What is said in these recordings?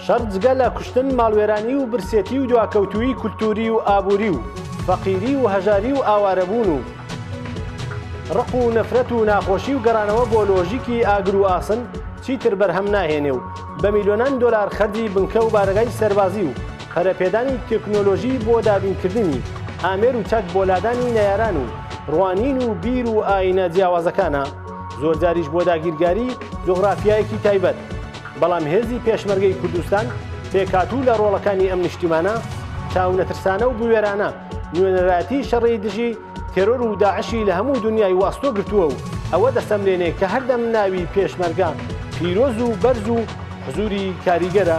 شەڕ جگە لە کوشتن ماڵوێرانی و برسێتی و دواکەوتووی کولتووری و ئابووری و فەقیری و هەژاری و ئاوارەبوون و ڕق و نەفرەت و ناخۆشی و گەڕانەوە بۆ لۆژیکی ئاگر و ئاسن چیتر بەرهەم ناهێنێ و بە میلیۆنان دۆلار خەرجی بنکە و بارەگای سەربازی و پەرەپێدانی تەکنۆلۆژی بۆ دابینکردنی ئامێر و چەک بۆ لادانی نەیاران و ڕوانین و بیر و ئایینە جیاوازەکانە زۆرجاریش بۆ داگیرگاری جغرافیایەکی تایبەت بەڵام هێزی پێشمەرگەی کوردستان پێکاتوو لە ڕۆڵەکانی ئەم نیشتیمانە چاو نەترسانە و بوێرانە نوێنەراتی شەڕی دژی تێرۆر و داعشی لە هەموو دنیای واستۆ گرتووە و ئەوە دەسەملێنێ کە هەردەم ناوی پێشمەرگە پیرۆز و بەرز و حزوری کاریگەرە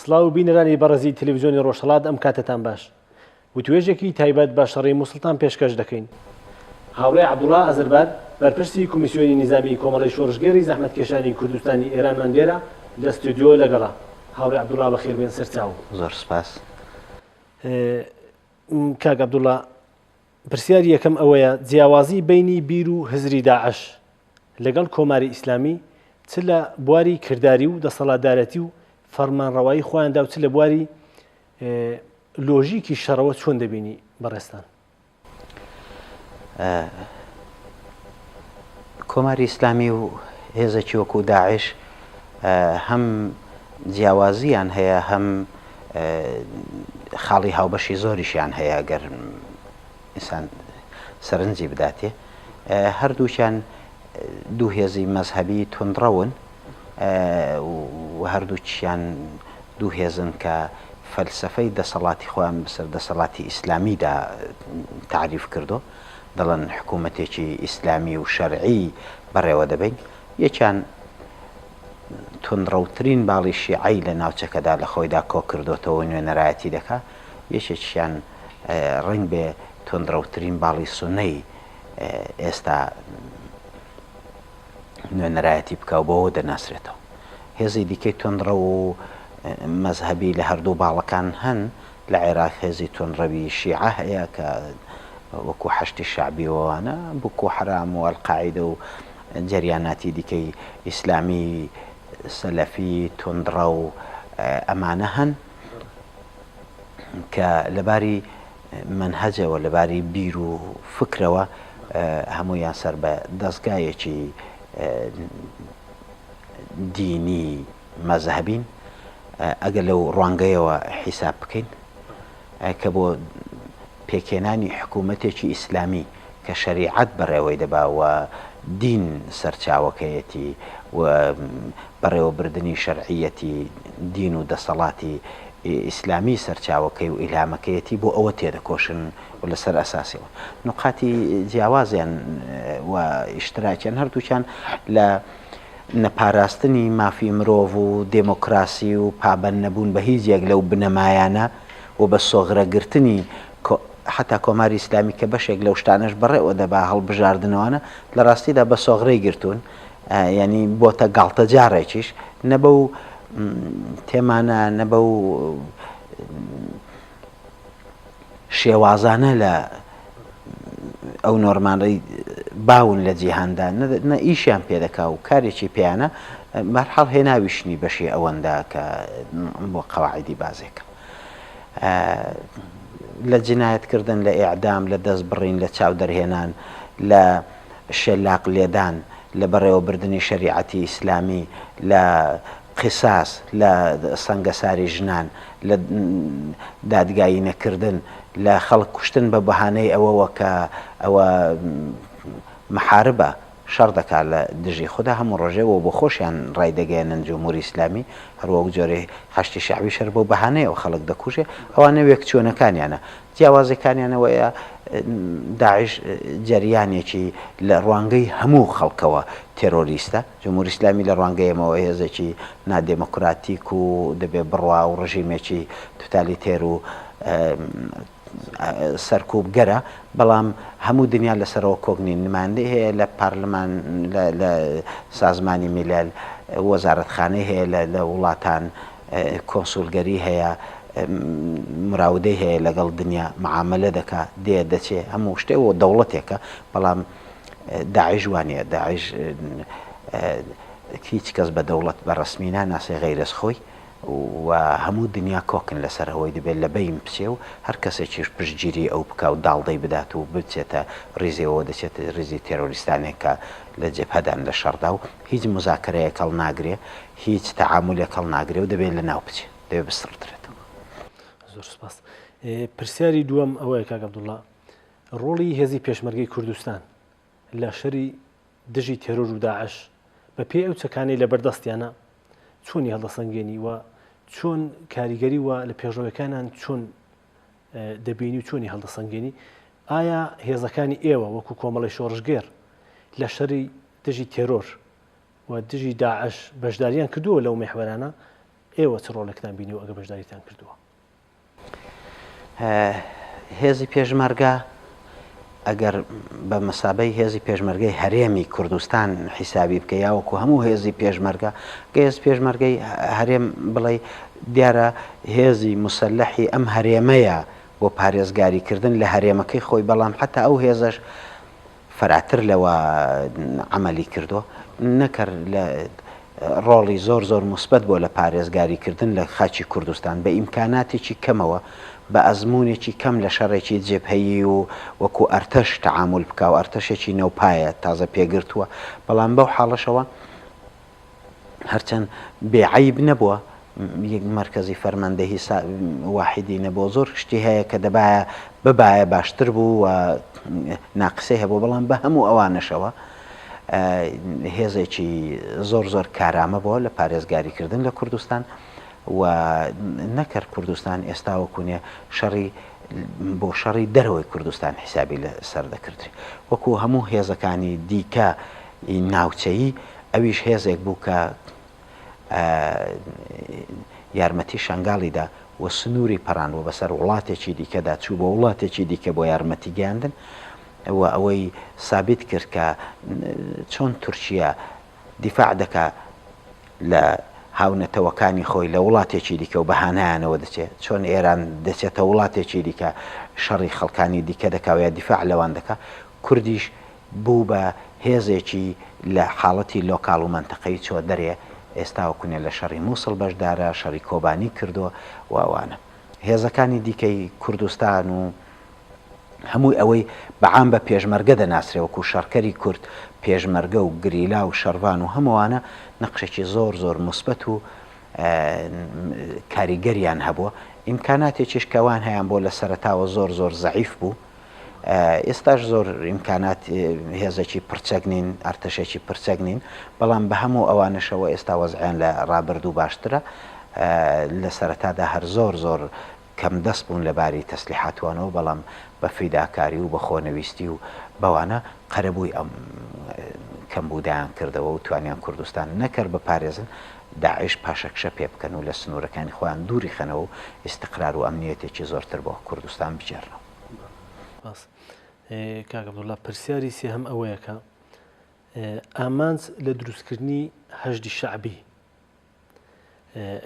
سڵاو بینەرانی بەڕێزی تەلەڤیزیۆنی ڕۆژهەڵات ئەم کاتەتان باش وتوێژێکی تایبەت بە شەڕی موسڵتان پێشکەش دەکەین. هاوڕێ عەبدوڵا ئەزربات بەرپرسی کۆمیسیۆنی نیزامی کۆمەڵەی شۆڕشگێڕی زەحمەتکێشانی کوردستانی ئێرانمان لێرە لە ستۆدیۆ لەگەڵە. هاوڕێ عەبدوڵا بەخێربێن سەرچاو. زۆر سپاس. کاک عەبدوڵا پرسیاری یەکەم ئەوەیە جیاوازی بەینی بیر و هزری داعش لەگەڵ کۆماری ئیسلامی چ لە بواری کرداری و دەسەڵاتدارەتی و فەرمانڕەوایی خۆیاندا و چ لە بواری لۆژیکی شەڕەوە چۆن دەبینی بەڕێستان؟ کۆماری ئیسلامی و هێزێکی وەکو داعش هەم جیاوازیان هەیە هەم خاڵی هاوبەشی زۆریشیان هەیە گەر ئینسان سەرنجی بداتێ هەردووکیان دوو هێزی مەزهبی تونندڕەون هەردووکیان دوو هێزن کە فەلسفەی دەسەڵاتی خۆیان بەسەر دەسەڵاتی ئیسلامیدا تعریف کردو دەڵێن حکوومەتێکی ئیسلامی و شەرعی بەڕێوە دەبین یەکیان توندڕەوترین باڵی شیعەی لە ناوچەکەدا لە خۆیدا کۆکردۆتەوە و نوێنەرایەتی دەکا، یەکێکیان ڕەنگبێ توندڕەوترین باڵی سونەی ئێستا نوێنەرایەتی بکا و بەوە دەناسرێتەوە. هێزی دیکەی توندڕەو و مەزهەبی لە هەردوو باڵەکان هەن، لە عێراق هێزی توندڕەوی شیعە هەیە کە وەکوو حەشدی شەعبی و ئەوانە، بوکوو حەرام و ئەلقاعیدە و، جەریاناتی دیکەی ئیسلامی سەلەفی توندڕەو ئەمانە هەن کە لە باری مەنهەجەوە لە باری بیر و فکرەوە هەموویان سەر بە دەزگایەکی دینی مەزهبین ئەگەر لەو ڕوانگەیەوە حیساب بکەین کە بۆ پێکهێنانی حکوومەتێکی ئیسلامی کە شەریعەت بەڕێوەی دەبا و دین سەرچاوەکەیەتی و بەڕێوەبردنی شەرعییەتی دین و دەسەڵاتی ئیسلامی سەرچاوەکەی و ئیلهامەکەیەتی بۆ ئەوە تێدەکۆشن و لەسەر ئەساسی ئەوە نوقاتی جیاوازیان و ئیشتراکیان هەردووکیان لە نەپاراستنی مافی مرۆڤ و دێمۆکڕاسی و پابەند نەبوون بە هیچ یەک لەو بنەمایانە و بە سۆغرە گرتنی کۆ حەتا کۆماری ئیسلامی کە بەشێک لەو شتانەش بەڕێوە دەبا هەڵبژاردنەوانە لە ڕاستیدا بە سۆغرەی گرتوون یانی بۆتە گاڵتەجاڕێکیش نە بەو تێمانە نە بەو شێوازانە لە ئەو نۆرمانەی باون لە جیهاندا نە ئیشیان پێدەکا و کارێکی پێیانە بەرحاڵ هێناویشنی بەشی ئەوەندا کە بۆ قەواعدی بازێکە لە جنایەتکردن لە ئێعدام لە دەست بڕین لە چاو دەرهێنان لە شەلاق لێدان لە بەڕێوەبردننی شریعەتی ئیسلامی لە قساس لە سەنگەساری ژنان، لە دادگایی نەکردن لە خەڵک کوشتن بە بەهانەی ئەوەوە کە ئەوە محاربە، شەڕ دەکات لە دژی خودا، هەموو ڕۆژێ وە بۆخۆشیان ڕایدەگەیەنن جمهوری ئیسلامی، هەر وەک جۆرێ حەشدی شەعبیش هەر بەو بەهانەیەوە خەڵک دەکوژێ، ئەوانە وێکچوونەکانیانە، جیاوازیەکانیان ئەوەیە داعش جەریانێکی لە ڕوانگەی هەموو خەڵکەوە تێرۆریستە، جمهوری ئیسلامی لە ڕوانگەی ئێمەوە هێزێکی نادێمۆکراتیک و دەبێ بڕوا و ڕژیمێکی توتالیتێر و سەرکوبگەرە، بەڵام هەموو دنیا لەسەرەوە کۆک نین، نمایندەی هەیە لە پارلمان، لە سازمانی میلل، وەزارەتخانەی هەیە لە وڵاتان، کۆنسولگەری هەیە، مراودەی هەیە لەگەڵ دنیا، معامەلە دەکا، دێ دەچێ، هەموو شتێ و دەوڵەتێکە، بەڵام. داعش وا نیە داعش هیچ کەس بە دەوڵەت بە ڕەسمی ناناسێ غەیرەز خۆی و هەموو دنیا کۆکن لەسەر ئەوەی دەبێت لە بەین بچێ و هەر کەسێکیش پشتگیری ئەو بکا و داڵدەی بدات و بچێتە ڕیزیەوە دەچێتە ڕیزی تێرۆریستانێک کە لە جەبهەدان لە شەڕدا و هیچ موزاکەرەیەک هەڵ ناگرێ هیچ تەعامولێک هەڵ ناگرێ و دەبێت لە ناو بچێ دەبێت بسڕدرێتەوە زۆر سپاس پرسیاری دووەم ئەوەیە کاک عەبدوڵڵا ڕۆڵی هێزی پێشمەرگەی کوردستان لە شەری دژی تێرۆر و داعش بە پێی ئەو چەکانەی لەبەر دەستیانە چۆنی هەڵدەسەنگێنی و چۆن کاریگەری وە لە پێشڕەوەکانان چۆن دەبینی و چۆنی هەڵدەسەنگێنی ئایا هێزەکانی ئێوە وەکو کۆمەڵی شۆڕژگێر لە شەری دژی تێرۆر و دژی داعش بەشداریان کردووە لەو مێحوەرانە ئێوە چ ڕۆلێکتان بینی و ئەگە بەشداریتان کردووە هێزی پێشمەرگە ئەگەر بە مەسابەی هێزی پێشمەرگەی هەرێمی کوردستان حیسابی بکە یاوەکو هەموو هێزی پێشمەرگە گەێز پێشمەرگەی هەرێم بڵێ دیارە هێزی مسلحی ئەم هەرێمەیە بۆ پارێزگاریکردن لە هەرێمەکەی خۆی بەڵام حتا ئەو هێزش فراتر لەوە عەمەلی کردووە نەکەر لە ڕۆڵی زۆر زۆر موسبەت بۆ لە پارێزگاری کردن لە خاچی کوردستان بە ئیمکاناتێکی کەمەوە بە ئەزمونێکی کەم لە شەڕێکی جێبهەیی و وەکو ئەرتەش تەعامول بکاو ئەرتەشێکی نەوپایە تازە پێگرتووە بەڵام بەو حاڵەشەوە هەرچەند بێ عەیب نەبووە یەک مەرکەزی فەرماندەهی سا واحیدی نەبووە، زۆر شتی هەیە کە دەبایە ببایە باشتر بوو و ناقسەی هەبوو، بەڵام بە هەموو ئەوانەشەوە هێزێکی زۆر زۆر کارامە بووە لە پارێزگاریکردن لە کوردستان و نەکەر کوردستان ئێستا وەکوونێ شەڕی بۆ شەڕی دەرەوەی کوردستان حیسابی لەسەر دەکردرێ وەکو هەموو هێزەکانی دیکە ی ناوچەیی، ئەویش هێزێک بوو کە یارمەتی شەنگالی دا و سنووری پەڕاند و بەسەر وڵاتێکی دیکەدا چوو بۆ وڵاتێکی دیکە بۆ یارمەتی گەیاندن و ئەوەی سابیت کرد کە چۆن تورکییە دیفاع دەکا لە هاونەتەوەکانی خۆی لە وڵاتێکی دیکە و بەهانایانەوە دەچێ چۆن ئێران دەچێتە وڵاتێکی دیکە شەڕی خەڵکانی دیکە دەکا و یا دیفاع لەوان دەکا کوردیش بوو بە هێزێکی لە حاڵەتی لۆکاڵ و مەنتەقەیی چووە دەرێ، ئێستا و کونێ لە شەڕی مووسڵ بەشدارە، شەڕی کۆبانی کردو و ئەوانە. هێزەکانی دیکەی کوردستان و هەمووی ئەوەی بە عام بە پێشمەرگە دەناسرێ وەکوو شەڕکەری کورد، پێشمەرگە و گریلا و شەڕڤان و هەمووانە نەقشێکی زۆر زۆر موسبەت و کاریگەریان هەبووە. ئیمکاناتێکیش کە وان هەیان بۆ لە سەرەتاوە زۆر زۆر زەعیف بوو. ئێستاش زۆر ئیمکانات هێزێکی پڕچەک نین ئەرتەشێکی پرچەک نین بەڵام بە هەموو ئەوانەشەوە ئێستا وەزعیان لە ڕابردوو باشترە لە سەرەتادا هەر زۆر زۆر کەم دەست بوون لە باری تەسلیحاتوانەوە بەڵام بە فیداکاری و بە خۆنەویستی و بەوانە قەرەبووی ئەم کەمبوودایان کردەوە و توانیان کوردستان نەکرد بە پارێزن داعش پاشەکشە پێ بکەن و لە سنوورەکانی خۆیان دووری خەنەوە و ئیستقرار و ئەمنییەتێکی زۆرتر بۆ کوردستان بگێڕنەوە. سپاس. کاک عەبدوڵڵا، پرسیاری سێهەم ئەوەیە کە ئامانج لە دروستکردنی حەشدی شەعبی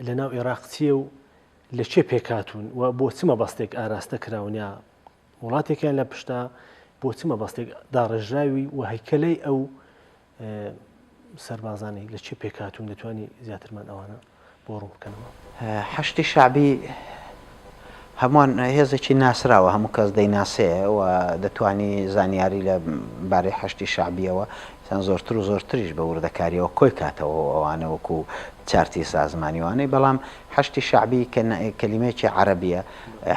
لەناو عێراق چییە و لە کێ پێکهاتوون و بۆ چ مەبەستێک ئاراستە کراون یا وڵاتێکیان لە پشتە بۆ چ مەبەستێک داڕێژراوی و هەیکەلەی ئەو سەربازانی لە چێ پێکهاتوون دەتوانی زیاترمان ئەوانە بۆ ڕوون بکەنەوە حشتی شعبی هەمووان هێزێکی ناسراوە هەموو کەس دەیناسێ و دەتوانی زانیاری لە بارەی حشتی شعبیەوە سان زۆرتر و زۆرتریش بە وردەکاریەوە کۆی کاتەوە ئەوانە وەکو چارتی سازمانیوانەی بەڵام حشتی شعبی کەلیمێکی عربیە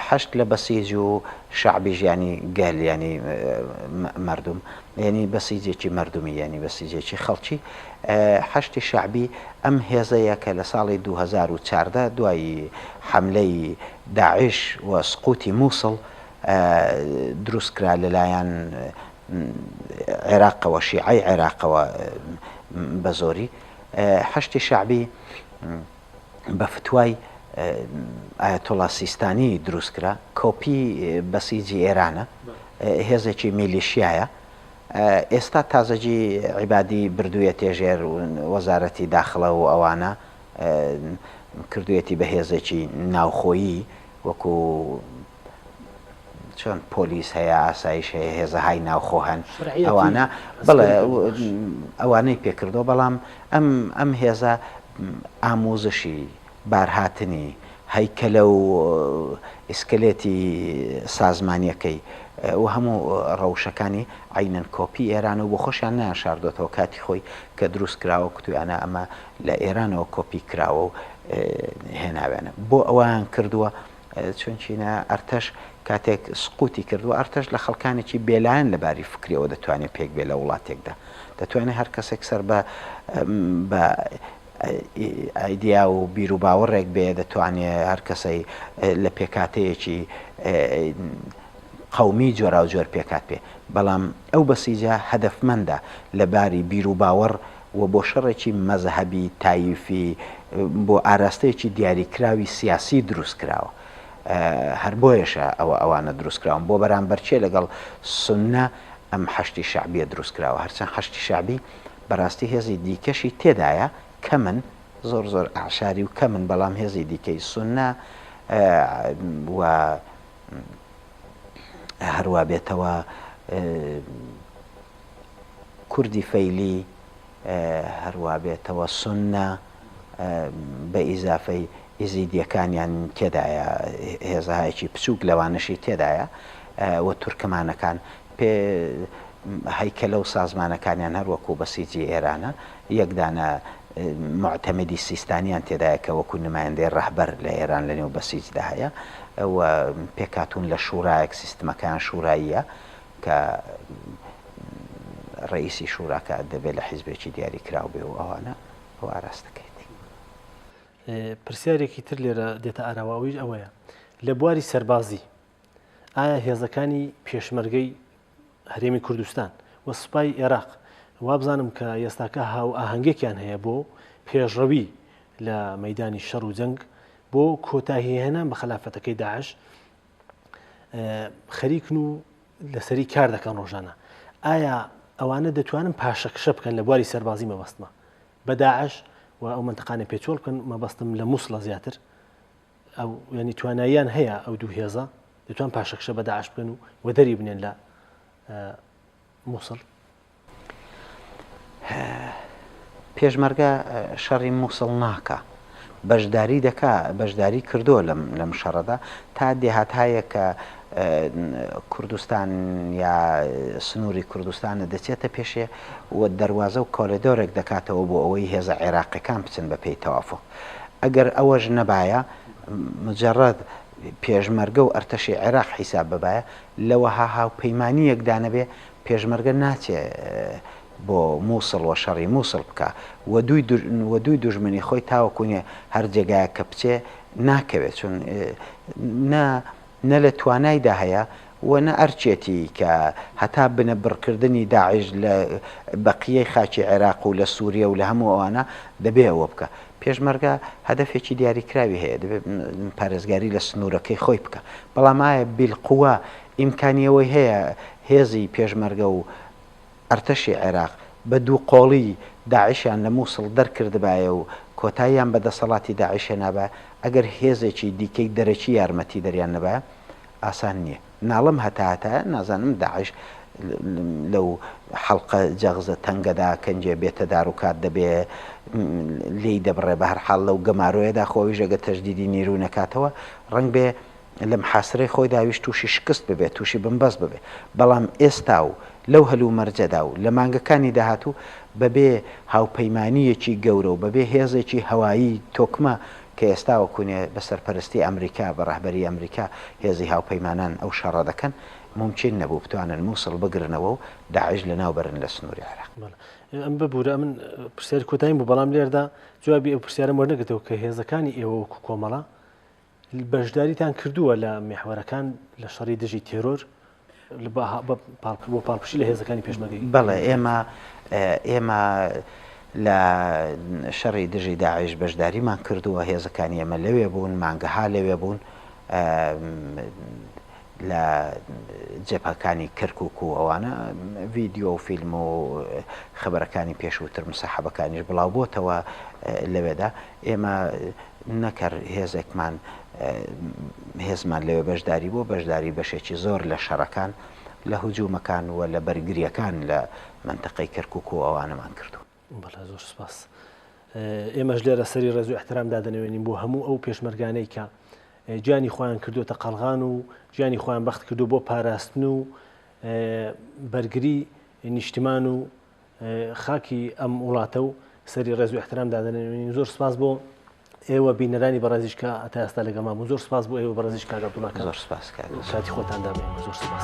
حشت لە بەسیج و شعبی ژیانی گەل ینی مردم یەنی بەسیجێکی مەردمی یەنی بەسیجێکی خەڵکی حەشدی شەعبی ئەم هێزەیە کە لە ساڵی دوو هەزار و چاردە دوای حەملەی داعش و سقوتی موسڵ دروست کرا لە لایەن عێراقەوە شیعەی عێراقەوە بە زۆری حەشدی شەعبی بە فتوای ئایەتوڵا سیستانی دروست کرا کۆپی بەسیجی ئێرانە هێزێکی میلیشیایە ئێستا تازەجی عیبادی بردوویەتێ ژێر وەزارەتی داخڵە و ئەوانە کردوویەتی بە هێزێکی ناوخۆیی وەکو چۆن پۆلیس هەیە ئاسایش هەیە هێزە های ناوخۆ هەن ئەوانە بڵێ ئەوانەی پێکردەوە بەڵام ئەم ئەم هێزە ئامۆزشی بارهاتنی هەیکەلە و ئیسکلێتی سازمانیەکەی و هەموو ڕەوشەکانی عینەن کۆپی ئێران و بۆ خۆشیان نیان شاردۆتەوە کاتی خۆی کە دروست کراوە کتویانە ئەمە لە ئێرانەوە کۆپی کراوە و هێناوێنە بۆ ئەوان کردووە چونچینە ئەرتەش کاتێک سقوتی کرد و ئەرتەش لە خەڵکانێکی بێلایەن لە باری فکریەوە دەتوانێ پێک بێ لە وڵاتێکدا دەتوانێ هەر کەسێک سەر بە بە ئایدیا و بیروباوەڕێک بێ دەتوانێ هەر کەسەی لە پێکاتەیەکی قومی جۆراوجۆر پێکات پێ بەڵام ئەو بەسیجە هەدەفمەندە لە باری بیروباوەڕ و بۆ شەڕێکی مەزهەبی، تاییفی، بۆ ئاراستەیەکی دیاریکراوی سیاسی دروست کراوە. هەر بۆیەشە ئەوە ئەوانە دروست کراون. بۆ بەرامبەر چێ لەگەڵ سوننە ئەم حەشدی شەعبییە دروست کراوە. هەرچەند حەشدی شەعبی بەراستی هێزی دیکەشی تێدایە، کەمن، زۆر زۆر ئەعشاری و کەمن، بەڵام هێزی دیکەی سوننە و هەر وا بێتەوە کوردی فەیلی هەر وا بێتەوە سوننە بە ئیزافەی ئیزیدیەکانیان تێدایە هێزهایەکی بچوک لەوانەشی تێدایە و تورکمانەکان پێ هەیکەلە و سازمانەکانیان هەر وەکو بەسیجی ئێرانە یەک دانە موعتەمدی سیستانیان تێدایە کە وەکو نمایندەی ڕەهبەر لە ئێران لە نێو بەسیجدا هەیە و پێکهاتوون لە شورایەک سیستمەکەیان شوراییە کە ڕەئیسی شوراکە دەبێ لە حیزبێکی دیاری کراو بێ و ئەوانە ئەو ئاراستەکەیتی. پرسیارێکی تر لێرە دێتە ئاراوە ئەویش ئەوەیە لە بواری سەربازی ئایا هێزەکانی پێشمەرگەی هەرێمی کوردستان و سوپای عێراق وابزانم کە ئێستاکە هاو ئاهەنگێکیان هەیە بۆ پێشڕەوی لە مەدانی شەڕ و جەنگ بۆ کۆتاهی هێنان بە خلافەتەکەی داعش خەریکن و لەسەری کار دەکەن ڕۆژانە ئایا ئەوانە دەتوانن پاشەکشە بکەن لە بواری سەربازی مەبەستمە بەداعش و ئەو منتقانە پێچۆڵ بکەن مەبەستم لە مووسڵە زیاتر ئەو ینی تواناییان هەیە ئەو دوو هێزە دەتوان پاشەکشە بەداعش بکەن و وەدەری بنێن لە مووسڵ پێشمەرگە شەڕی مووسڵ ناکا بەشداری دەکا بەشداری کردووە لەم لەم شەڕەدا تا دێهات هەیە کە کوردستان یا سنووری کوردستانە دەچێتە پێشێ و دەواازە و کۆلێدۆرێک دەکاتەوە بۆ ئەوەی هێزە عێراقەکان بچن بە پێی تەوافق ئەگەر ئەوەش نەبایە مجرڕەت پێشمەرگە و ئەرتەشی عێراق حیساب ببایە لەوەها هاوپەیمانیەکدانەبێ پێشمەرگە ناچێ بۆ موسڵ و شەڕی موسڵ بکا و دووی دوژمنی خۆی تاوەکو نیە هەر جێگایەک کە بچێ ناکەوێ چون نە نە لە توانایدا هەیە و نە ئەرکێتی کە هەتا بنە بڕکردنی داعش لە بەقیەی خاکی عێراق و لە سوریە و لە هەموو ئەوانە دەبێ ئەوە بکە پێشمەرگە هەدەفێکی دیاریکراوی هەیە دەبێ پارێزگاری لە سنوورەکەی خۆی بکە بەڵام ئایا بیلقوە ئیمکانی ئەوەی هەیە هێزی پێشمەرگە و ئەرتەشی عێراق بە دوو قۆڵی داعشیان لە موسڵ دەرکردبایە و کۆتاییان بە دەسەڵاتی داعش هێنابا ئەگەر هێزێکی دیکەی دەرەکی یارمەتیدەریان نەبایە ئاسان نییە ناڵم هەتاهەتایە نازانم داعش لەو حەڵقە جەغزە تەنگەدا کەنجێ بێتە دار و کات دەبێ لێی دەبڕێ بەهەرحاڵ لەو گەمارۆیەدا خۆ ئەویش ئەگەر تەجدیدی نیروی نەکاتەوە ڕەنگبێ لە محاسرەی خۆیدا ویست تووشی شکست ببێت، تووشی بنبەست ببێت، بەڵام ئێستا و لەو هەلومەرجەدا و لە مانگەکانی داهاتوو بەبێ هاوپەیمانییەکی گەورە و بەبێ هێزێکی هەوایی تۆکمە کە ئێستا وەکوونێ بە سەرپەرستی ئەمریکا، بە ڕەهبەری ئەمریکا هێزی هاوپەیمانان ئەو شەڕە دەکەن، مومکین نەبوو بتوانن مووسڵ بگرنەوە و داعش لەناو بەرن لە سنووری عێراق. بەڵێ. ئەم ببوورە ئەمن پرسیاری کۆتاییم بوو، بەڵام لێرەدا جوابی ئەو پرسیارەم وەرنەگرتەوە کە هێزەکانی ئێوە وەکوو کۆمەڵە بەشداریتان کردووە لە میحوەرەکان لە شەڕی دژی تێرۆر بۆ پاڵپشی لە هێزەکانی پێشمەگەی بەڵێ ئێمە ئێمە لە شەڕی دژی داعش بەشداریمان کردووە هێزەکانی ئێمە لەوێ بوون مانگەها لەوێ بوون لە جبهەکانی کرکوک و ئەوانە ڤیدیۆ و فیلم و خەبەرەکانی پێشووتر مسەحەبەکانیش بڵاو بۆتەوە لەوێدا ئێمە نەکەر هێزێکمان هێزمان لەوێ بەشداری بۆ بەشداری بەشێکی زۆر لە شەڕەکان لە هجومەکان و لە بەرگریەکان لە منتەقەی کرکوک و ئەوانەمان کردووە. بەڵێ زۆر سپاس ئێمەش لێرە سەری ڕێز و احترام دادەنەوێنین بۆ هەموو ئەو پێشمەرگانەی کە گیانی خۆیان کردوتە قەلغان و گیانی خۆیان بەخت کردو بۆ پاراستن و بەرگری نیشتمان و خاکی ئەم وڵاتە و سەری ڕێز و احترام دادەنەوێنین زۆر سپاس بۆ ئێوە بینەرانی بەڕێزیش کە تا ئێستا لەگەڵمان بوون زۆر سپاس بۆ ئێوە بەڕێزیش کاک عەبدوڵڵا کاک زۆر سپاس کاک عەبدوڵڵا. کاتی خۆتان دا بە ئێمە زۆر سپاس.